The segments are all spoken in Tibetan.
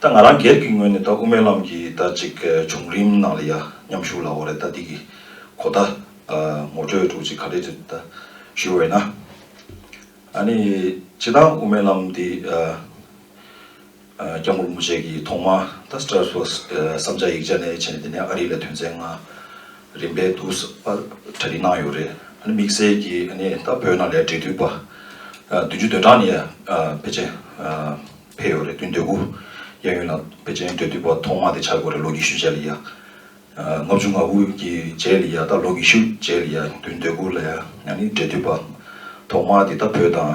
ད་ང་རང་སྒེར་གྱི་ངོས་ནས་ད་དབུ་མའི་ལམ་གྱི་ད་ཅིག་བྱུང་རིམ་ནང་ལ་ཡ་མཉམ་ཞུ་ལ་འོ་རེད་ད་འདི་གི་གོ་ད་ངོ་སྤྲོད་དྲུག་གཅིག་ག་རེ་རེད་ད་ཞུ་འོས་ན། ཨ་ནི་བྱེད་སྟངས་དབུ་མའི་ལམ་འདི་སྐྱབས་མགོན་རིན་པོ་ཆེ་གྱི་ཐོག་མ་ད་སྤྲར་ཕོས་བསམ་བྱ་ཡིག་ཆ་ནས་བྱས་ནས་འདི་ནས་ཨ་རི་ལ་དོན་ཚན་ལྔ་རིམ་པས་བསྡུ་བར་གྲ་སྒྲིག་གནང་ཡོད་རེད། དམིགས་བསལ་གྱིས་ད་བོད་ནང་ལས་འབྲེལ་མཐུད་པ་བདུན་ཅུ་དོན་གྲངས་ནས་པེ་ཅིན་ཕེབས་ཡོད་རེད་དུས་འདོད་དགུ་གཡས་གཡོན་ལ་པེ་ཅིན་འབྲེལ་མཐུད་པ་ཐོག་མ་དེ་ཆགས་དགོས་རེད་ལོ་ཉི་ཤུ་རྗེས་ལ་ཡ། ལྔ་བཅུ་ང་དགུ་གི་རྗེས་ལ་ཡ་ད་ལོ་ཉི་ཤུ་རྗེས་ལ་ཡ་དུས་འདོད་དགུ་ལ་ཡ་འབྲེལ་མཐུད་པ་ཐོག་མ་དེ་ད་བོད་དང་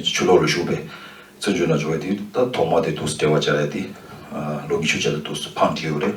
ཆུ་ལོག་ལ་ཞུགས་པའི་བཙན་བྱོལ་ནང་འབྱོར་བའི་དུས་ད་ཐོག་མ་དེ་དུས་སུ་འབྲེལ་བ་བྱས་རེད་དེ་ལོ་ཉི་ཤུ་རྗེས་ལ་དུས་སུ་ཕང་འགྲིལ་ཡོད་རེད།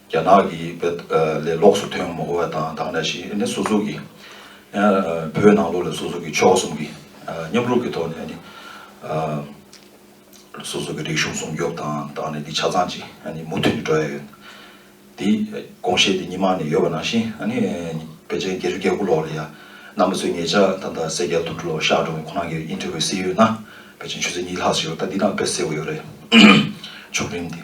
རྒྱ་ནག་གི་བོད་ལས་ལོགས་སུ་ཐོན་མ་དགོས་པ་དང་དང་འདྲ་ཞིག་ནི་སོ་སོ་གི་བོད་ནང་ལོགས་ལས་སོ་སོ་གི་ཕྱོགས་གསུམ་གི་མཉམ་རུབ་ཀྱི་ཐོག་ནས་ནི་སོ་སོ་གི་རིག་གཞུང་སྲུང་སྐྱོབ་དང་དང་ནི་འདི་ཆ་ཚང་ཅིག་མུ་མཐུད་ནས་འགྲོ་ཡ་ཡོད། འདི་དགོངས་བཞེས་འདི་གཉིས་མ་ནི་ཡོད་པ་ནང་བཞིན་བལ་ཆེན་རྒྱལ་རི་རྒྱལ་ཁུག་ལོགས་ལ་ཡ་ནང་མི་ཚོས་ངེད་ཅག་ད་ལྟ་སེར་སྐྱ་དུད་འགྲོ་ལོགས་ཤག་འགྲོ་མཁན་ཁོ་རང་གི་དབྱིན་ཁྲི་བའི་སྲིད་ཡུལ་ན་བལ་ཆེན་ཆུ་ཚོད་གཉིས་ལྷག་ཞིག་རོ་ད་འདི་དང་བལ་སེར་བ་ཡོད་རེད། མཆོག་རིམ་འདི།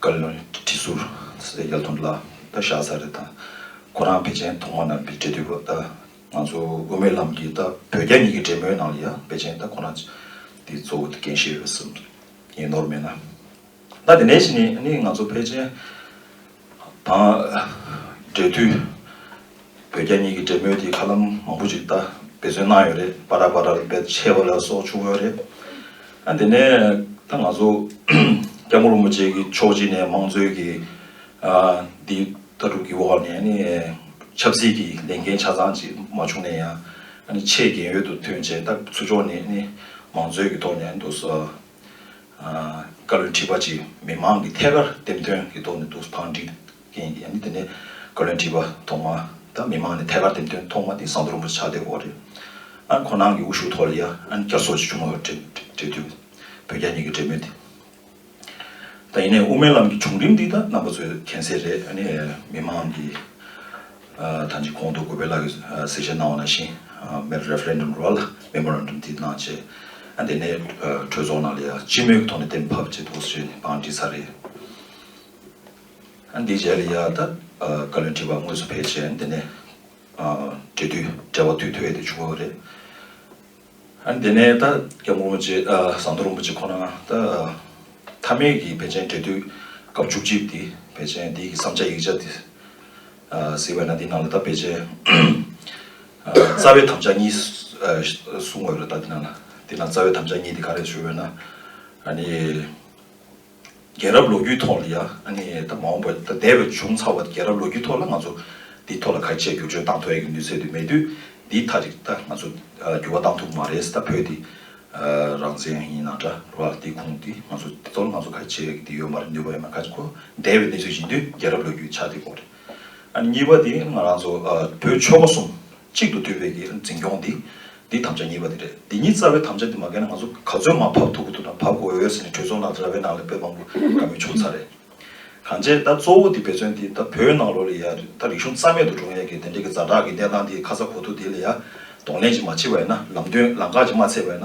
བཀའ་བློན་གྱི་ཁྲི་ཟུར་སེ་རྒྱ་མཚོ་ལ་ད་བཞག་ས་རེད་ད། ཁོ་རང་བེ་ཅན་ཐོག་མ་ནང་གི་འབྲེལ་འདུས་པ་ད། ང་ཚོ་དབུ་མའི་ལམ་གྱི་ད་བོད་རྒྱ་གཉིས་ཀྱི་འབྲེལ་མོལ་ནང་ལ་ཡང་བེ་ཅན་ད་ཁོ་རང་གི་གཙོ་བོ་འགན་བཞེས་ཡོད་སེམས་ཀྱི་ཡིན་ནོར་མེད་ན། ད་དེ་ནས་ནི་ང་ཚོ་བེ་ཅན་དང་འབྲེལ་འདུས། བོད་རྒྱ་གཉིས་ཀྱི་འབྲེལ་མོལ་དེ་ཁ་ལམ་མང་པོ་ཞིག་ད་འབད་བརྩོན་གནང་ཡོད་རེད་པཱ་ར་པཱ་རར་འབད་ཆེ་བ་ལ་སོགས་བྱུང་ཡོད་རེད། ཨ་དེ་ནས་ད་ང་ཚོ་སྐྱབས་མགོན་རིན་པོ་ཆེ་གི་ཕྱོགས་གཅིག་ནས་དམངས་གཙོའི་གི་འདི་ལྟ་གྲུབ་ཀྱི་འོག་ནས་ནི་ཆབ་སྲིད་ཀྱི་ལས་འགན་ཆ་ཚང་ཅིག་མ་བྱུང་ནས་ཡང་ནི་ཆེས་གལ་ཡོད་དུ་ཐོན་བྱས་སྟབས་ཚུར་ཕྱོགས་ནས་ནི་མང་གཙོའི་གི་ཐོག་ནས་འདུག་སོ། བཀའ་བློན་ཁྲི་པ་ཅིག་མི་མང་གི་ཐད་ཀར་འདེམས་ཐོན་གི་ཐོག་ནས་འདུག་བང་སྒྲིག་ཡིན་དེ་ནས་བཀའ་བློན་ཁྲི་པ་ཐོག་མ་དང་མི་མང་ནས་ཐད་ཀར་འདེམས་ཐོན་ཐོག་མ་དེ་ཟངས་རྡོ་རིན་པོ་ཆེ་ཕྱག་འདེབས་འོག་རེད། ཁོ་རང་གི་དབུ་ཞུགས་ཐོག་ལ་ཡང་བསྐྱར་ཚོགས་ཆེན་ཆུང་ངུ་གྲོལ་དུས་བོད་རྒྱ་གཉིས་ཀྱི་འབྲེལ་མོལ་དེ་ད་ཡིན་ནས་དབུ་མའི་ལམ་གྱི་བྱུང་རིམ་འདི་ད་རྣམ་པ་ཚོས་མཁྱེན་གསལ་རེད་ཨ་ནི་མི་མང་གི་ད་ཅིག་གོང་དུ་གུས་པའི་ལགས་ཀྱིས་གསལ་བཤད་གནང་བ་ནང་བཞིན་མེར Referendum རུ་བ་ལ Memorandum དེ་གནང་རྗེས་ཨ་དེ་ནས་གྲོས་ཚོགས་ནང་ལ་ཡང་སྤྱི་མོས་ཀྱི་ཐོག་ནས་གཏན་ཕབ་བྱེད་དགོས་ཞེས་ནས་བང་བསྒྲིགས་ཚར་རེད། འདི་བྱས་ལ་ཡར་ད་ག་ལེར་འཁྲིད་པ་དངོས་སུ་ཕལ་ཆེར་འདི་ནས་འབྲེལ་དུས་བྲལ་བ་དུས་ཐོས་ཏེ་བྱུང་བ་རེད། འདི་ནས་ད་སྐྱབས་མགོན་རིན་པོ་ཆེ་ཟམ་གདོང་རིན་པོ་ཆེ་ཁོ་ན་ད་མཐའ་མེད་ཀྱི་བན་ཆེན་འབྲེལ་དུས་སྐབས་བཅུ་གཅིག་འདི་བན་ཆེན་འདི་ཡི་བསམ་བྱ་ཡིག་ཆ་འདི་ཟེར་བས་ན་འདི་ནང་ལ་ད་བན་ཆེན་རྩ་བའི་དམ་བཅའ་གཉིས་གསུང་བ་རེད་ད་འདི་ནང་ལ་འདི་ནང་རྩ་བའི་དམ་བཅའ་གཉིས་འདི་ག་རེད་ཞུས་པས་ན་ཨ་ནི། རྒྱལ་རབས་ལོ་རྒྱུས་ཐོག་ལ་ཡ་ནི་ད་མ་འོངས་པ་ད་འདས་པའི་བྱུང་ཚར་བ་རྒྱལ་རབས་ལོ་རྒྱུས་ཐོག་ལ་ང་ཚོ་འདི་ཐོག་ལ་ག་ཆད་བསྒྱུར་བཅོས་བཏང་ཐོ་ཡས་ཀྱི་ནུས་ཚད་དུ་མེད་དུས་འདི་མཐའ་རིགས་ད་ང་ཚོ་བསྒྱུར་བ་བཏང་ཐུབ་མ་རེད་ད་བོད་འདི་རང་བཙན་ཡིན་ན་འདྲ་བ་འདི་ཁུངས་འདི་ང་ཚོ་འདི་ཐོག་ལ་ང་ཚོ་ག་ཆད་ཡས་ཀྱི་འདི་ཡོད་མ་རེད་ནུས་པ་ཡོད་མ་རེད་ཁ་ཆེ་ཁོ་འདས་པའི་གནས་ཚུལ་ཡིན་དུས་རྒྱལ་རབས་ལོ་རྒྱུས་ཆ་འདི་གོ་རེད། གཉིས་པ་དེ་ང་རང་ཚོ་བོད་ཆོལ་ཁ་གསུམ་གཅིག་ཏུ་འདུས་པའི་གི་འཛིན་སྐྱོང་དེ་དེ་དམ་བཅའ་གཉིས་པ་དེ་རེད་དེ་གཉིས་རྩ་བའི་དམ་བཅའ་དེ་མ་བཀལ་ན་ང་ཚོ་ག་ཚོད་མ་བབ་ཐུབ་གི་ཐུབ་དང་བབ་དགོས་འོས་ཟེར་ནས་གྲོས་ཚོགས་ནང་ར་བའི་ནང་ལས་བོད་དཔང་པོ་ག་མོས་བྱུང་ཚར་རེད། གང་བྱས་ད་གཙོ་བོ་དེ་འབད་བརྩོན་དེ་ད་བོད་ནང་ལོག་ལས་ཡ་ད་རིག་གཞུང་རྩ་མེད་དུ་འགྲོ་ཡ་གི་དེ་འདྲ་གི་རྫ་དྲག་གི་གནས་སྟངས་དེ་ཁ་ཚ་གོ་ཐུབ་དེ་ལས་ཡ་གདོང་ལེན་ཅིག་མ་བྱེད་པ་ཡ་ན་ལམ་སྟོན་ལམ་ཁ་ཅིག་མ་ཚད་པ་ཡ་ན་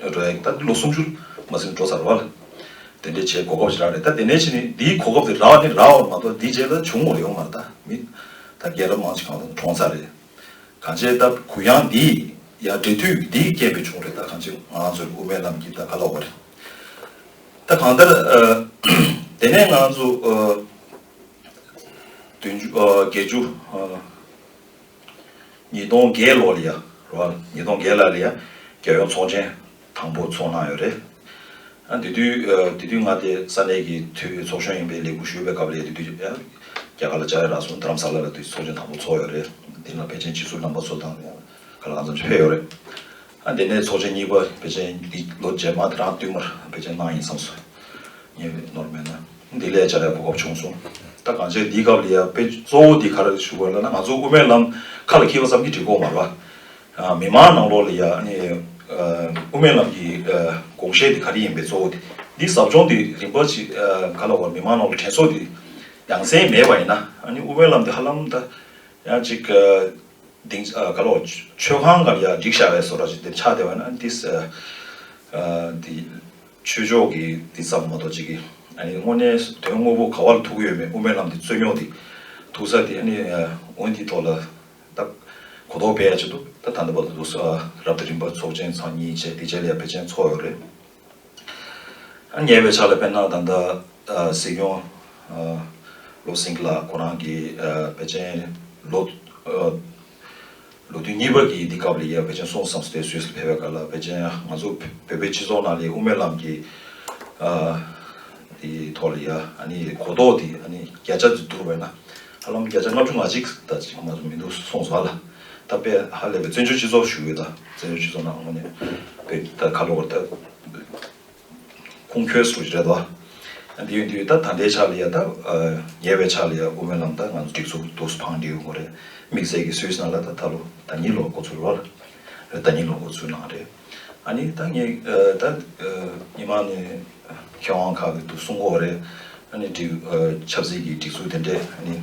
ལྷོད་འགྲོ་ཡག་ད་ལོ་སུམ་ཅུ་མ་ཟིན་འགྲོ་ཚར་བ། དེ་འདྲའི་བྱའི་གོ་སྐབས་ཞིག་རག་རེད་ད་དེ་ནས་ཕྱིན་ནས་དེའི་གོ་སྐབས་དེ་རག་ནི་རག་བར་མ་གཏོགས་དེ་རྗེས་ད་བྱུང་བ་ཡོང་མ་རེད་ད་མི་ད་རྒན་རབས་མང་ཅིག་གང་ལ་གྲོངས་ཚར་རེད། གང་བྱས་ད་གུ་ཡངས་འདི་ཡང་འབྲེལ་མཐུད་འདིའི་རྐྱེན་པས་བྱུང་རེད་ད་གང་བྱས་ང་ཚོའི་དབུ་མའི་ལམ་གྱིས་ད་ག་ལ་འོག་པ་རེད་ད་གང་ལྟར། དེ་ནས་ང་ཚོ་བདུན་ཅུ་བརྒྱད་ཅུ། ཉིས་སྟོང་བརྒྱད་ལོར་ལི་ཡ་རོ་ཉིས་སྟོང་བརྒྱད་ལ་ལི་ཡ་རྒྱལ་ཡོངས་ཚོགས་ཆེན་དང་པོ་འཚོགས་གནང་ཡོད་རེད། དེ་དུས་དེ་དུས་ང་དེ་ས་གནས་ཀྱི་འཐུས་ཚོགས་གཞོན་ཡིན་པའི་ལས་ཁུར་ཞུས་པའི་སྐབས་རེད་དེ་དུས་རྒྱ་གར་ལ་བཅར་ཡ་རག་སོང་དྷ་རམ་ས་ལ་ལ་དུས་ཚོགས་ཆེན་དང་པོ་འཚོགས་ཡོད་རེད་དེ་ནང་པེ་ཅིན་ཕྱི་སུ་རྣམ་པ་ཚོ་དང་ག་ལ་ག་ཚོ་ཕེབས་ཡོད་རེད། དེ་ནས་ཚོགས་ཆེན་གཉིས་པ་བེ་ཅན་འདི་ལོ་རྗེས་མ་དེ་རང་བསྟུད་མར་བེ་ཅན་གནང་ཡིན་བསམ་སོ། ངས་བེ་ནོར་མེད་ན་འདི་ལས་བྱ་རེ་གོ་སྐབས་བྱུང་སོང། ད་གང་བྱས་འདིའི་སྐབས་ལ་ཡ་བེ་གཙོ་བོ་འདི་གར་བཞུགས་པ་ལ་ན་ང་ཚོ་དབུ་མའི་ལམ་ཁ་ལ་འཁྱིལ་བ་ཙམ་གྱིས་འགྲིག་དགོས་མ་རེད། མི་མང་ནང་ལོགས་ལ་ཡ་དབུ་མའི་ལམ་གྱི་དགོངས་བཞེད་འདི་ག་རེ་ཡིན་བེ་གཙོ་བོ་འདི་འདིའི་ཟབ་སྦྱོང་འདི་རིམ་པ་ཅི་ག་ལ་བར་མི་མང་ནང་ལ་དྲན་གསོ་འདི་ཡང་སེ་མེད་པ་ཡིན་ན་ཨ་ནི་དབུ་མའི་ལམ་འདི་ཧ་ལམ་ད་ཡང་ཅིག་དེང་སྐབས་ལོ་ཆོས་ཁང་གམ་ཡང་སྒྲིག་བྱ་བའི་བཟོ་གྲྭ་ཞིག་འདིར་ཆགས་བསྡད་པ་ན་དེ་དེ་ཆོས་ཕྱོགས་ཀྱི་དེ་ཙམ་མ་གཏོགས་ཅི་གི་ཨ་ནི་དངོས་གནས་དོན་དངོས་པོ་ག་བ་ལ་ཐུག་གི་ཡོད་མེད་དབུ་མའི་ལམ་དེ་རྩོད་རྙོག་དེ་ཐུག་ས་དེ་ཨ་ནི་དབུ་འདིའི་ཐོག་ལ་ད་གོ་རྟོགས་སྤེལ་ཡ་ཆེ་འདུག་ད་ད་ལྟ་བར་དུ་རབ་ཏུ་རིམ་པ་ཚོགས་ཆེན་ཚང་གཉིས་བཅས་དེ་རྗེས་ལ་ཡང་བེ་ཅན་ཚོགས་ཡོད་རེད། ཉེ་བའི་ཆར་ལ་དཔེར་ན་ད་ལྟ་སྲིད་སྐྱོང་བློ་སེང་ལགས་ཁོ་རང་གིས་བེ་ཅན་ལོ་དུས་གཉིས་པ་གྱི་དུས་སྐབས་ལ་ཡས་བེ་ཅན་སོང་བསམ་སྟེ་སུད་སི་ཕེབས་པའི་སྐབས་ལ་བེ་ཅན་ང་ཚོ་བོད་པའི་སྤྱི་ཚོགས་ནང་ལ་ཡས་དབུ་མའི་ལམ་གྱི་དེ་ཐོག་ལ་ཡས་ནི་གོ་རྟོགས་དེ་ཡས་ནི་བརྒྱ་ཆ་དེ་བསྡུར་བས་ན་ཧ་ལམ་བརྒྱ་ཆ་ལྔ་བཅུ་ང་གཅིག་དང་གཅིག་མ་གཏོགས་མི་འདུག་སོང་བ་ལ། ད་པེ་ཧ་ལས་པའི་བཙན་བྱོལ་སྤྱི་ཚོགས་ཞུགས་ཡོད་ད་བཙན་བྱོལ་སྤྱི་ཚོགས་ནང་ངོ་ནས་པེ་ད་ཁ་ལོ་བར་ད་ཁུང་ཁྱོད་སུ་རེད་ད་འདི་ཡོད་འདི་ཡོད་ད་ད་ལྟའི་ཆ་ལ་ཡ་ད་ཉེ་བའི་ཆ་ལ་ཡ་དབུ་མའི་ལམ་ད་ང་ཚོ་སྒྲིག་འཛུགས་དུག་སུ་འཕང་འདི་ཡོད་ངོ་རེད་དམིགས་བསལ་གྱི་སུད་སི་ནང་ལ་ད་ད་ལོ་ད་གཉིས་ལོ་འགོ་ཚུགས་ལོ་རེད་ད་གཉིས་ལོ་འགོ་ཚུགས་ནང་རེད་ཨ་ནི་ད་ངས་ད་ཉི་མ་ནས་མཁས་དབང་ཁག་གི་དུག་སུ་འགོ་བ་རེད་ཨ་ནི་སྒྲིག་ཆབ་སྲིད་ཀྱི་སྒྲིག་འཛུགས་དེ་འདྲས་ཨ་ནི།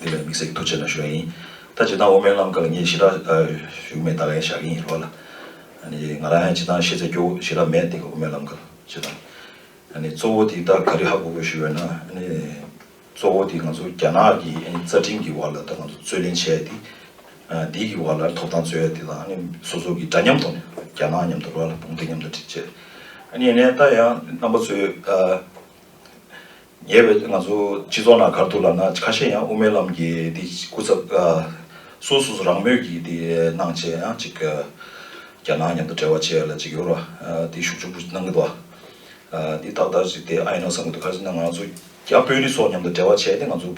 དེ་ལས་མིག་སེར་ཐུགས་ཆེ་ན་ཞུ་ཡ་ཡིན། ད་ཇི་ལྟར་འོ་མའི་ལམ་ཀ་ལ་ངས་ཞི་དྲག་ཞུགས་མེད་ད་ལན་བཞག་གིན་ཡིན་རོགས་ལ། ང་རང་ཡང་ཇི་ལྟར་ཤེས་ཚད་སྐྱོ་བོ་ཞི་དྲག་མེད་དེ་གི་འོ་མའི་ལམ་ཀ་ལ་ཇི་ལྟར། གཙོ་བོ་དེ་ད་ག་རི་ཧ་གོ་དགོས་ཞུ་བས་ན། གཙོ་བོ་དེ་ང་ཚོ་རྒྱ་ནག་གི་རྩ་ཁྲིམས་ཀྱི་བར་ལ་ད་ང་ཚོ་རྩོད་ལེན་བྱས་ཏེ། དེ་གི་བར་ལ་ཐོབ་ཐང་རྩོད་ཡ་དེ་དང་སོ་སོ་གི་འདྲ་མཉམ་ཐོག་ནས་རྒྱ་ནག་མཉམ་དུ་རོགས་ལ་དཔུང་སྡེ་མཉམ་དུ་བྱེད། ད་ཡང་རྣམ་པ་ཚོས། ཉེ་བའི་ང་ཚོ་སྤྱི་ཚོགས་ནང་གར་ཐུག་ལབ་ན་ཁ་ཤས་ཡང་དབུ་མའི་ལམ་གྱི་དེ་སྐུ་ཚབ་སོ་སོ་སོ་རང་མོས་ཀྱི་དེ་གནང་བྱས་ཡང་ཅིག་རྒྱ་ནག་མཉམ་དུ་འབྲེལ་བ་བྱས་ལ་ཅིག་ཡོ་ར་དེ་ཞུགས་ཆུག་པོ་གནང་གི་འདུག་ཨ། དེ་ཏག་ཏག་ཅིག་དེ་ཨ་ཡེ་ན་བསམ་གྱི་འདུག་ཁ་ཅིག་ན་ང་ཚོ་རྒྱ་དཔོན་རིགས་སོགས་མཉམ་དུ་འབྲེལ་བ་བྱས་ཏེ་ང་ཚོ་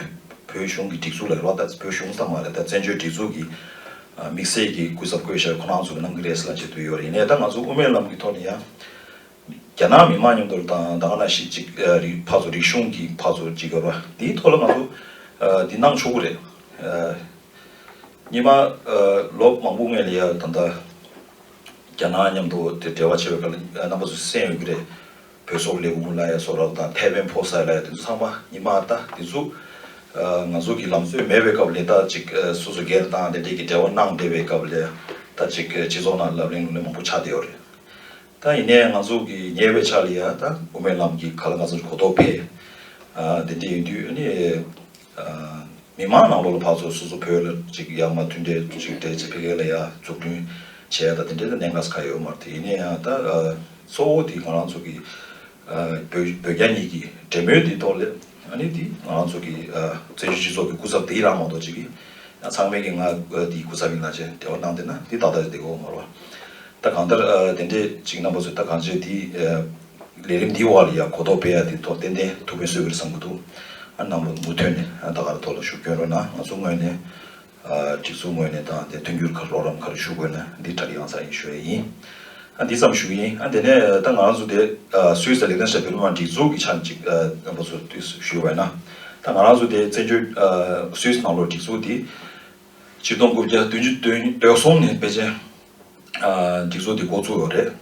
བོད་གཞུང་གི་སྒྲིག་འཛུགས་ལ་རེ་བ་ད་བོད་གཞུང་ཙམ་མ་རེད་ད་བཙན་བྱོལ་སྒྲིག་འཛུགས་ཀྱི་དམིགས་བསལ་གྱི་སྐུ་ཚབ་བསྐོས་བཞག་ཁོ་ནའང་ཚུར་གནང་གི་རེད་ཟེར་ལ་ཅིག་དུ་ཡོ་རེད་ནས་ད་ང་ཚོ་དབུ་མའི་ལམ་གྱི་ཐོག་ནས་ཡང། རྒྱ་ནག་མི་དམངས་མཉམ་དུ་དང་བདག་ན་ཞིག་ཅིག་རིགས་ཕར་ཚོ་རིག་གཞུང་གི་ཕར་ཚོ་ཅིག་ཡོད་པ་དེའི་ཐོག་ལ་ང་ཚོ་འདི་གནང་ཆོག་གི་རེད། གཉིས་པ་ལོ་མང་པོ་སྔོན་ལ་ཡ་ད་ལྟ་རྒྱ་ནག་མཉམ་དུ་འབྲེལ་བ་བྱས་པའི་སྐབས་ལ་རྣམ་པ་ཚོ་སེམས་ཡོད་ཀྱི་རེད། བོད་སོག་ལེ་ཝུན་ལ་ཡ་སོག་ར་བ་དང་ཐའེ་ཝན་ཕོ་སའི་ལ་ཡ་དེ་ཚོ་ཚང་མ་ཉི་མ་ད་དེ་ཚོ་ང་ཚོ་གི་ལམ་སྲོལ་མེད་པའི་སྐབས་ལས་ད་ཅིག་སོ་སོ་སྒེར་དང་ལས་འབྲས་ཀྱི་འབྲེལ་བ་གནང་བསྡད་པའི་སྐབས་ལ་ད་ཅིག་སྤྱི་ཚོགས་ནང་ལབ་གླེང་ལུགས་གླེང་མང་པོ་ཆགས་བསྡད་ཡོད་རེད། ད་ཡིན་ནའི་ང་ཚོ་གི་ཉེ་བའི་ཆ་ལ་ཡང་ད་དབུ་མའི་ལམ་གྱི་ག་ལ་ང་ཚོར་གོ་རྟོགས་འཕེལ། དེ་འདྲ་ཡིན་དུས་ནི། མི་མང་ནང་ལོགས་ལ་ཕར་ཚུར་སོ་སོ་བོད་ལ་ཅིག་ཡ་མ་མཐུན་འབྲེལ་ཅིག་འབྲེལ་ཅིག་ཕལ་ཁེ་ལ་ཡ་འཛུགས་སྐྲུན་བྱས་ད་དེ་འདྲའི་གནད་འགག་ས་ཁ་ཡོད་མ་རེད་དེ་ཡིན་ནའི་ཡང་ད་གཙོ་བོ་དེ་ང་རང་ཚོ་གི། བོད་རྒྱ་གཉིས་ཀྱི་འབྲེལ་མོལ་དེའི་ཐོག་ལས་གནས་འདི་ང་རང་ཚོ་གི་བཙན་བྱོལ་སྤྱི་ཚོགས་ཀྱི་སྐུ་ཚབ་དེ་ཡིན་རང་མ་གཏོགས་ཅི་གི་ཚང་མའི་གི་ང་འདིའི་སྐུ་ཚབ་ཡིན་ལ་ཅེས་འབྲེལ་བ་གནང་འདོད་ན་འདི་ད་ལྟ་རེད་འདི་གོ་མ་རོག་ད་གང་ལྟར་དེ་འདྲས་ཅིག་རྣམ་པ་ཚོས་ད་གང་བྱས་དེ་ལས་རིམ་འདིའི་འོག་ལ་ཡང་གོ་རྟོགས་སྤེལ་ཡ་དེའི་ཐོག་ཏན་ཏན་ཐུགས་ཕན་གསོས་གི་རེད་བསམ་གི་འདུག་ཨ་ནང་པ་མུ་མཐུད་ནས་ད་ག་རེ་ཐོག་ལ་ཞུགས་སྐྱོན་རོགས་གནང་ང་ཚོ་དངོས་ནས་སྒྲིག་འཛུགས་ངོས་ནས་དང་དེ་མཐུན་འགྱུར་ཁར་རོགས་རམ་ག་རེ་ཞུ་དགོས་ན་འདི་དྲ་ཡང་ཚ་ཡིན་ཞུ་ཡས་ཡིན། འདི་ཙམ་ཞུ་གི་ཡིན། དེ་ནས་ད་ང་རང་ཚོ་དེ་སུའི་སར་ལས་དོན་བྱས་པའི་སློབ་མ་སྒྲིག་འཛུགས་ཀྱི་ཆ་གཅིག་ཨ་བུ་ཚོ་དུས་སུ་ཞུ་བས་ན། ད་ང་རང་ཚོ་དེ་བཙན་བྱོལ་སུའི་ནང་ལོགས་སྒྲིག་འཛུགས་དེ། སྤྱི་སྟོང་དགུ་བརྒྱ་བདུན་ཅུ་དོན་གསུམ་ནས་པེ་ཅན། སྒྲིག་བཟོ་དེ་འགོ་བཙུགས་ཡོད་རེད།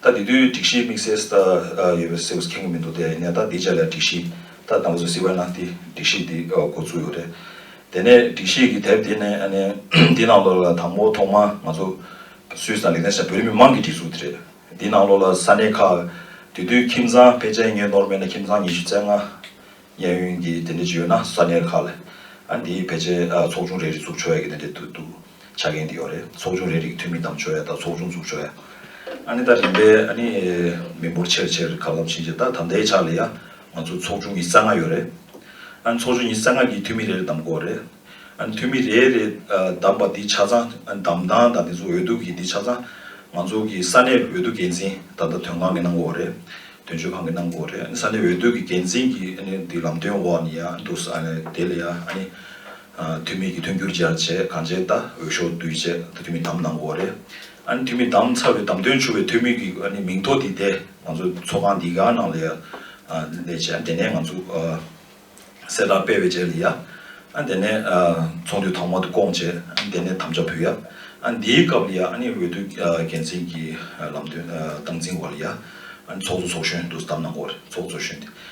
ད་དེ་དུས་སྒྲིག་གཞིའི་དམིགས་བསལ་ཟད་ཡོད་པའི་སེའུ་ཁེངས་པོ་མི་འདུག་དེ་ནས་ད་དེ་རྗེས་ལ་སྒྲིག་གཞི་ད་དང་པོ་ཟེར་སིལ་བའི་ནག་ཏི་སྒྲིག་གཞི་དེ་འགོ་བཙུགས་ཡོད་རེད། དེ་ནས་སྒྲིག་གཞི་གི་དེབ་དེ་ནས་ནི་དེ་ནང་ལོགས་ལ་དང་པོ་ཐོག་མ་ང་ཚོ་སུད་སི་དང་ལེགས་ལྡན་ས་བོད་རིགས་མི་མང་གི་སྒྲིག་འཛུགས་དེ་རེད། དེ་ནང་ལོགས་ལ་ས་གནས་ཁག་དེ་དུས་ཁྱིམ་ཚང་ཕལ་ཆེར་ངའི་ནོར་མེད་ན་ཁྱིམ་ཚང་ཉི་ཤུ་རྩ་ལྔ་གཡས་གཡོན་གྱི་དེ་འདྲ་ཅིག་ཡོད་ན་ས་གནས་ཁག་ལ་ཨ་འདིའི་ཕལ་ཆེར་ཚོགས་ཆུང་རེ་རེ་བཙུགས་ཆོག་ཡ་གི་དེ་འདྲ་དུ་འདུག། ཆ་རྐྱེན་དེ་ཡོད་རེད། ཚོགས་ཆུང་རེའི་རིགས་འཐུས་མི་གདམ་ཆོག་ཡ་ད་ཚོགས་ཆུང་འཛུགས་ཆོག་ཡ། ཨ་ནི་ད་རིམ་པས་ཨ་ནི་མི་འབོར་ཆེར་ཆེར་ག་ལམ་ཕྱིན་རྗེས་ད་ད་ལྟའི་ཆ་ལ་ཡ་ང་ཚོ་ཚོགས་ཆུང་ཉི་རྩ་ལྔ་ཡོད་རེད། ཨ་ནི་ཚོགས་ཆུང་ཉི་རྩ་ལྔ་གིས་འཐུས་མི་རེ་རེ་གདམ་དགོས་རེད། ཨ་ནི་འཐུས་མི་རེ་རེ་གདམ་པ་འདི་ཆ་ཚང་ཨ་ནི་གདམ་སྟངས་དང་དེ་ཚོ་འོས་བསྡུ་གི་འདི་ཆ་ཚང་ང་ཚོ་གི་ས་གནས་འོས་བསྡུ་འགན་འཛིན་ད་ལྟ་དོན་ཁང་གི་གནང་དགོས་རེད། དོན་གཅོད་ཁང་གི་གནང་དགོས་རེད། ཨ་ནི་ས་གནས་འོས་བསྡུ་གི་འགན་འཛིན་གྱི་ཨ་ནི་འདི་ལམ་སྟོན་འོག་ནི་ཡ་འདུག་ཨ་ནི་དེ་ལ་ཡ་ཨ་ནི་ཐུ་མི་གི་ཐུན་འགྱུར་སྦྱར་བྱས་གང་བྱས་ལྟ་འོད་ཤོག་བསྡུས་བྱས་ད་ཐུ་མི་དམ་ནང་འོག་རེད། ཨཱ་ནི་ཐུ་མི་དམ་ཚ་བའི་དམ་དོན་ཆུ་བའི་ཐུ་མི་གི་ཨཱ་ནི་མིང་ཐོ་དེ་དེ་ང་ཚོ་ཚོགས་ཁང་འདི་ག་ནང་ལ་ཡ་ལས་བྱས་ཨཱ་ནི་དེ་ནས་ང་ཚོ་གསལ་བསྒྲགས་སྤེལ་བའི་རྗེས་ལ་ཡ་ཨཱ་ནི་དེ་ནས་ཚོགས་འདུའི་ཐོག་མ་དུ་སྐོང་བྱས་ཨཱ་ནི་དེ་ནས་དམ་བཅའ་ཕུལ་ཡ་ཨཱ་ནི་དེའི་སྐབས་ལ་ཡ་ཨཱ་ནི་འོས་བསྡུ་འགན་འཛིན་གྱི་ལམ་སྟོན་སྟངས་འཛིན་བ་ལ་ཡ་ཨཱ་ནི་ཚོགས་གཙོ་ཚོགས་གཞོན་དུ་དམ་ནང་འོག་རེད་ཚོགས་གཙོ་གཞོན་དེ་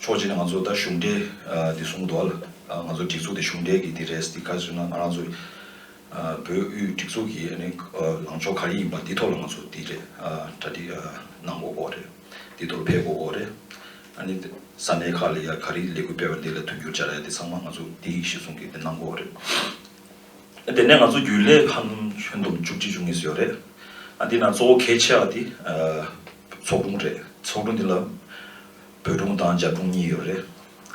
ཕྱོགས་གཅིག་ནས་ང་ཚོ་ད་གཞུང་འབྲེལ་འདི་གསུང་གི་འདུག་ལ། ང་ཚོ་སྒྲིག་འཛུགས་དེ་གཞུང་འབྲེལ་གྱི་འདི་རེད་འདི་ག་ཟེར་ན་ང་རང་ཚོ་བོད་དབུས་སྒྲིག་འཛུགས་ཀྱི་ལངས་ཕྱོགས་ག་རེ་ཡིན་པ་འདི་ཐོག་ལ་ང་ཚོ་འདི་རེད་གྲ་སྒྲིག་གནང་དགོས་སྐོར་རེད། འདི་ཐོག་ལ་ཕེབས་དགོས་སྐོར་རེད། ནི་ས་གནས་ཁག་ལ་ཡང་ག་རེ་ལས་འགུལ་སྤེལ་བ་འདི་ལ་མཐུན་འགྱུར་བྱ་ར་འདི་ཚང་མ་ང་ཚོ་འདི་ཡིན་ཞེས་གསུང་གི་འདི་གནང་སྐོར་རེད། དེ་ནས་ང་ཚོ་རྒྱུན་ལས་ཁང་ཁྱོན་བསྡོམས་བཅུ་གཅིག་བྱུང་ངེས་སུ་ཡོད་རེད། འདི་ནང་གཙོ་བོ་གལ་ཆེ་བ་འདི་ཚོགས་དྲུང་རེད། ཚོགས་དྲུང་འདི་ལ་བོད་གྲོང་དང་རྒྱ་གྲོང་གཉིས་ཡོད་རེད་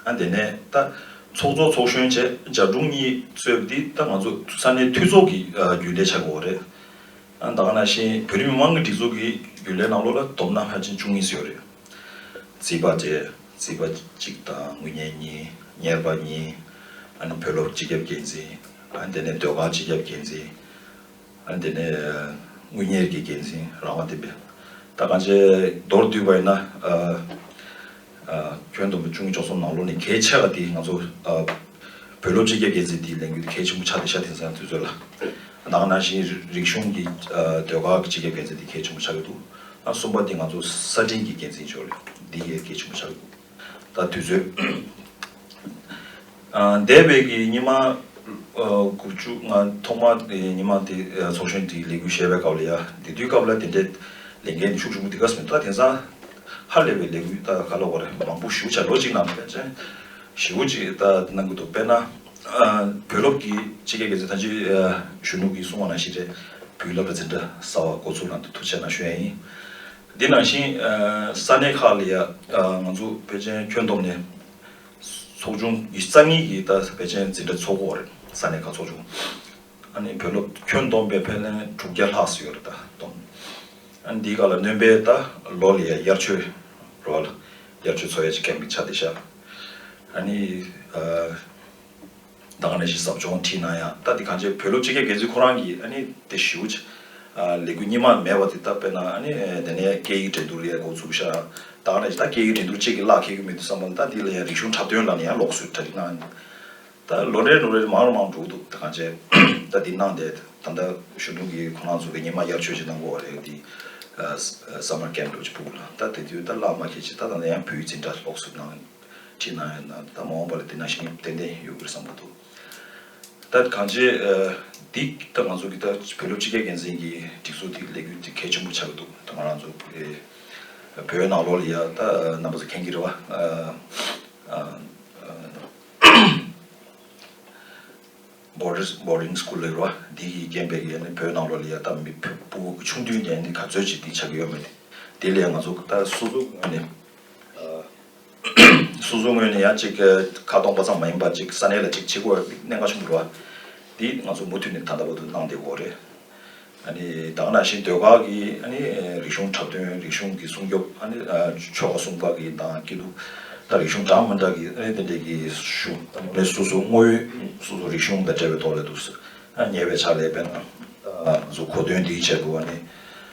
ཨ། དེ་ནས་ད། ཚོགས་གཙོ་ཚོགས་གཞོན་བཅས་རྒྱ་གྲོང་གཉིས་གཙོས་འདི་ད་ང་ཚོ་ས་གནས་འཐུས་ཚོགས་ཀྱི་རྒྱུན་ལས་བྱ་དགོས་བ་རེད་ཨ། ད་ག་ནང་བཞིན་བོད་རིགས་མི་མང་གི་སྒྲིག་འཛུགས་ཀྱི་རྒྱུན་ལས་ནང་ལོགས་ལ་དོམ་ནག་ཧ་ཅིང་ཅུང་ངེས་ཡོད་རེད། རྩིས་པ་བཅས་རྩིས་པ་གཅིག་དང་དངུལ་གཉེར་གཉིས་གཉེར་པ་གཉིས། ཨ་ནི་བོད་སློབ་སྤྱི་ཁྱབ་འགན་འཛིན་ཨ། དེ་ནས་སྡོད་ཁང་སྤྱི་ཁྱབ་འགན་འཛིན་འདི་ནས་དངུལ་གཉེར་གྱི་འགན་འཛིན་རང་དབང་ལྡན་པས། ད་གང་ཅའི་མདོར་བསྡུས་པ་ཡིན་ན། ཁྱོན་བསྡོམས་པའི་ཅུང་གི་ཕྱོགས་སོང་ནང་ལོགས་ནས་གལ་ཆེ་བ་དེ་ང་ཚོ་བོད་སློབ་སྤྱི་སྐྱབས་འགན་འཛིན་དེའི་ལས་འགུལ་དེ་གལ་ཆེན་པོ་ཆགས་ཏེ་ཤ་དེ་ཚོ་ཡང་དུས་ཚོད་ལ་ནང་ནང་བཞིན་རིག་གཞུང་གི་ཟློས་གར་གྱི་སྤྱི་སྐྱབས་འགན་འཛིན་དེ་གལ་ཆེན་པོ་ཆགས་ཀྱི་འདུག་གསུམ་པ་དེ་ང་ཚོ་གསར་འཕྲིན་གྱི་འགན་འཛིན་ཕྱོགས་ལས་འདི་གལ་ཆེན་པོ་ཆགས་ཀྱི་འདུག། དང་དུས་ཚོད། འདས་པའི་གི་ཉི་མ་དགུ་བཅུ་ལྔ་ཐོག་མ་དེ་ཉི་མ་དེ་ཚོགས་ཆེན་དེ་ལས་འགུལ་བྱས་པའི་སྐབས་ལ་ཡ་དེ་དུས་སྐབས་ལ་དེ་འདྲའི་ལས་འགན་དེ་ཤུགས་ཆུང་པོ་དེ་ག་སོང་ད་དེང་སང་ཧ་ལས་པའི་ལས་འགུལ་ད་ག་ལ་བར་མང་པོ་ཞུ་བྱ་ལོ་གཅིག་ནང་བས་ཅན་བཞི་བོ་གཅིག་ད་གནང་གི་འདུག་དཔེར་ན། བོད་སློབ་ཀྱི་སྤྱི་སྐད་འགན་འཛིན་ཐང་ཅིག་གཞོན་ནུ་གིས་གསུང་བ་ན་ཤི་རྗེས་བུའི་བསླབ་གྲྭ་འཛིན་གྲྭ་ཟ་བ་འགོ་ཚུགས་ནང་དུ་ཐུགས་ཆེ་ན་གཞོན་ཡིན། དེ་ནང་བཞིན་ས་གནས་ཁག་ལ་ཡང་ང་ཚོ་བོད་ཆེན་ཁྱོན་བསྡོམས་ནས་ཚོགས་ཆུང་རྩ་གཉིས་ཀྱི་ད་བོད་ཆེན་འཛིན་གྲྭ་ཚོགས་འགོ་རེད་ས་གནས་ཁག་ཚོགས་ཆུང་ཨ་ནི་བོད་སློབ་ཁྱོན་བསྡོམས་པའི་ཕན་ལན་དྲུག་བརྒྱ་ལྷག་སུ་ཡོད་རེད་ད་བསྡོམས་ཨ་ནི་འདིའི་ཁག་ལ་སྣོན་པའི་ད་ལོ་ལ་ཡ་དབྱར་ཆོས་རོལ་བ་ལ་དབྱར་ཆོས་ཚོགས་ཡ་ཆེ་ཁན་པིན་ཆ་དེ་ཤ་ཨ་ནི། ད་ག་ནས་ཞིག་ཟབ་སྦྱོང་ཁྲིད་གནང་ཡང་ལྟ་འདི་གངས་ཅན་བོད་ལོ་སྤྱི་ཁྱབ་འགན་འཛིན་ཁོ་རང་གིས་ཨ་ནི་དེ་ཞུ་བྱ། ལས་འགུལ་རྙིང་མ་མེད་པ་དེ་ལྟ་དཔེར་ན་ཨ་ནི་དེ་ནས་སྐད་ཡིག་འགྲན་བསྡུར་ཡས་འགོ་འཛུགས་ཤག་ད་ག་ནས་ཞིག་ད་སྐད་ཡིག་འགྲན་བསྡུར་ཅིག་གི་གླགས་འཁེལ་གི་མི་འདུག་བསམ་པ་ལྟ་འདི་ལ་ཡང་རིག་གཞུང་འཁྲབ་སྟོན་ལ་ནི་ཡང་ལོགས་སུ་གྲ་སྒྲིག་གནང་ད་ལོ་འདྲའི་ནོར་རེ་རེ་མང་རུ་མང་རུ་འགྲོ་གི་འདུག་ད་གངས་ཅན་ལྟ་འདི་གནང་འདས་ད་ལྟ་གཞོན་དྲུང་གིས་ཁོ་རང་ཚོ་གི་རྙིང་མ་དབྱར་ཆོས་ཅིག་གནང་དགོས་བ་རེད་འདི Summer Camp འགྲོ་ཅིག་པུ་གུ་ལ་ད་དེ་དུས་ད་གླགས་མ་འཁེལ་ཅིག་ད་ད་ལྟ་ཡང་བོད་ཡིག་འཛིན་གྲྭ་ལོགས་སུ་གནང། བྲིས་གནང་ཡོད་ནའང་ད་མ་འོངས་པ་ལ་དེ་ནང་བཞིན་ཏན་ཏན་ཡོད་དགོས་བསམ་གྱི་འདུག་ད་གང་ཅི་འདི་ལྟ་ང་ཚོ་གི་ད་བོད་ལོ་སྤྱི་རྒྱལ་འགན་འཛིན་གྱི་སྒྲིག་འཛུགས་དེ་ལས་འགུལ་དེ་གལ་ཆེན་པོ་ཆགས་ཀྱི་འདུག་ད་ང་རང་ཚོ་བོད་ནང་ལོགས་ལ་ཡ་ད་རྣམ་པ་ཚོ་མཁྱེན་གྱི་རེད་བ། Borders Boarding School ལ་ཡོད་རེད་བ་འདི་གི་རྐྱེན་པས་ཡ་ནི་བོད་ནང་ལོགས་ལ་ཡ་ད་མི་བུ་ཆུང་དུས་ནས་ཡ་ནི་ག་ཚོད་ཅིག་འདི་ཆགས་ཀྱི་ཡོད་མེད་དེ་ལས་ང་ཚོ་ད་སོ་སོ་ངོས་ནས། སོ་སོའི་ངོས་ནས་ཡང་གཅིག་ཁ་སྟོང་པ་ཙམ་མ་ཡིན་པ་གཅིག་ས་གནས་ལ་གཅིག་བྱེད་དགོས་པ་གནད་འགག་ཆེན་པོ་རེད་བ། འདི་ང་ཚོ་མུ་མཐུད་ནས་ད་ལྟ་བར་དུ་གནང་བསྡད་དགོས་རེད། ད་ག་ནང་བཞིན་སྡོད་ཁག་གི་རིག་གཞུང་འཁྲབ་སྟོན་རིག་གཞུང་གི་སྲུང་སྐྱོབ་ཆོ་ག་སྲུང་སྐར་གྱི་ནང་སྐྱིད་སྡུག་དང་རིག་གཞུང་གྲངས་མང་དག་གི་དེ་འདྲས་ཀྱི་ཞུ་སོ་སོའི་དངོས་ཡོད་སོ་སོའི་རིག་གཞུང་དང་འབྲེལ་བའི་ཐོག་ལ་འདུག་ཉེ་བའི་ཆར་ལས་དཔེར་ན་ང་ཚོ་གོ་སྟོན་འདིའི་ཆེད་དུ་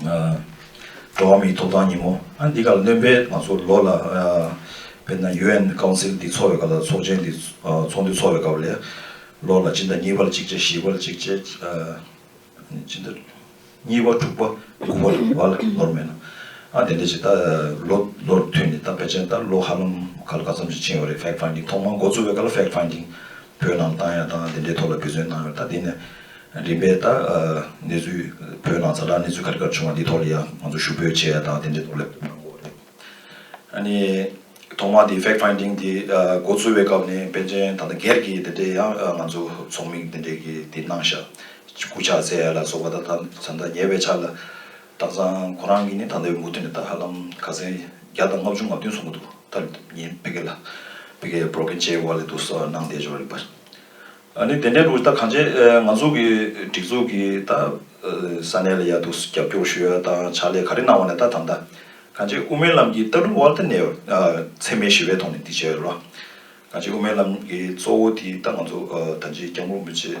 འགྲོ་བ་མིའི་ཐོབ་ཐང་ཉིན་མོ་འདི་ག་ལ་སྣོན་པའི་ང་ཚོ་ལོ་ལ་དཔེར་ན UN Council འདི་ཚོགས་བའི་སྐབས་ལ་ཚོགས་ཆེན་འདི་ཚོགས་འདུ་ཚོགས་བའི་སྐབས་ལས་ལོ་ལ་སྤྱི་ཟླ་གཉིས་པ་ལ་གཅིག་བྱས་བཞི་པ་ལ་གཅིག་བྱས་སྤྱི་ཟླ་གཉིས་པ་དྲུག་པ་དགུ་བ་ལ་བ་ལ་ནོར་མེད་ན་ཨ་དེ་འདྲ་ཅིག་ད་ལོ་ལོ་རུ་མཐུད་ནས་ད་དཔེ་ཆ་ད་ལོ་ཧ་ལམ་ག་ལ་ག་ཙམ་ཞིག་ཕྱིན་ཡོད་རེད Fact Finding ཐོག་མར་འགོ་བཙུགས་པའི་སྐབས་ལ Fact Finding བོད་ནང་བཏང་ཡང་བཏང་དེ་འདྲའི་ཐོག་ལ་འབད་བརྩོན་གནང་ཡོད་ད་ལྟའི་ནས་རིམ་པས་ད་གནས་ཚུལ་བོད་ནང་ས་བསྒྲགས་གནས་ཚུལ་ག་རེ་ག་རེ་བྱུང་བ་འདི་ཐོག་ལ་ཡང་ང་ཚོ་ཞུ་འབོད་བྱས་ཡ་ད་དེ་འདྲའི་ཐོག་ལ་ལབ་གནང་གོ་རེད། ཨ་ནི་ཐོག་མ་དེ fact finding དེ་འགོ་ཚུགས་བའི་སྐབས་ནས་པན་ཆེན་ད་ལྟ་སྒེར་གྱི་དེ་འདྲའི་ཡང་ང་ཚོ་ཚོགས་མིག་དེ་འདྲའི་གི་དེ་གནང་བཞག་སྐུ་ཕྱག་བཙལ་ཡ་ལ་སོགས་པ་ད་ད་ད་ཉེ་བའི་ཆ་ལ་དག་ཚང་ཁོ་རང་གིས་ནི་ད་ལྟའི་མུ་ཐུད་ནས་ད་ཧ་ལམ་ག་ཚད་བརྒྱ་དང་ལྔ་བཅུ་ང་བདུན་སོང་གི་འདུག་ད་ངན་ཕེ་གེ་ལ་ཕེ་གེ་བོར་གིན་བྱས་བ་ལས་དུ་སོ་གནང་བསྡད་འཇོག་རིགས་པ་ཨ་ནི་དེ་འདྲའི་ལུགས་ད་གང་བྱས་ང་ཚོ་གི་སྒྲིག་འཛུགས་ཀྱི་ད་ས་གནས་ལ་ཡར་དུ་རྒྱབ་སྐྱོར་ཞུ་ཡ་དང་ཕྱག་ལས་ག་རེ་གནང་བ་ནས་ད་ད་ད་གང་བྱས་དབུ་མའི་ལམ་གྱི་ལྟ་གྲུབ་དབར་ད་ནས་འཚེ་མེད་ཞི་བའི་ཐོག་ནས་འདི་བྱས་རོགས་གང་བྱས་དབུ་མའི་ལམ་གྱི་གཙོ་བོ་དེ་ད་ང་ཚོ་ད་ཅིའི་སྐྱབས་མགོན་མི་བྱེད།